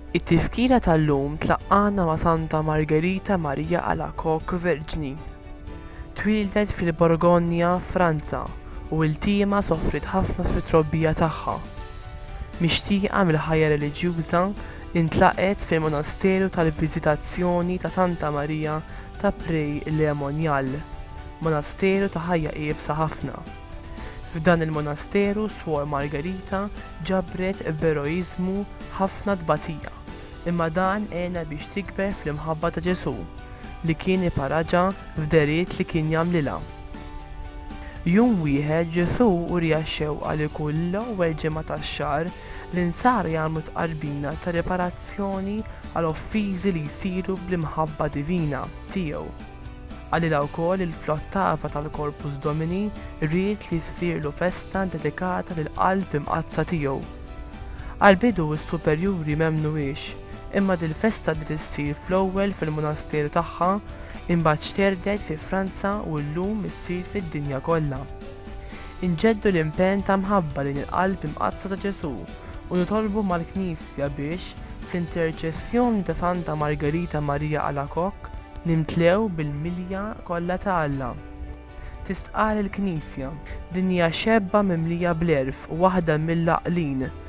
It-tifkira tal-lum tlaqqana ma' Santa Margherita Maria Alacoque Verġni. Twieldet fil-Borgonja, Franza, u iltiema sofriet ħafna fit-trobbija tagħha. Mixtieqa mill-ħajja reliġjuża, Intlaqgħet fil-Monasteru tal-Viżitazzjoni ta' Santa Marija ta' Prey-le-Monial, monasteru ta' ħajja iebsa ħafna. F'dan il-monasteru Suor Margherita ġabret b'eroiżmu ħafna tbatija, imma dan għenha biex tikber fl-imħabba ta' Ġesù, li kien iparaġa f'dehriet li kien jagħmlilha. Jum wieħed Ġesù uriha x-xewqa li kull l-ewwel ġimgħa tax-xahar L-Insara jagħmlu tqarbina ta' riparazzjoni għal offiżi li jsiru bl-imħabba divina Tiegħu. Għalilha wkoll il fl-ottava tal-Corpus Domini ried li ssirlu festa ddedikata lill-Qalb Imqaddsa Tiegħu. Għall-bidu s-superjuri m'emmnuhiex, imma dil-festa bdiet issir fl-ewwel fil-munasteru tagħha, imbagħad xterdet fi Franza u llum issir fid-dinja kollha. Inġeddu l-impenn ta' mħabba lejn il-Qalb Imqaddsa ta' Ġesù u nitolbu mal-Knisja biex, fl-interċessjoni ta' Santa Margherita Maria Alacoque, nimtlew bil-milja kollha ta' Alla. Tistqarr il-Knisja. Din hija xebba mimlija bl-għerf u waħda mill-għaqlin.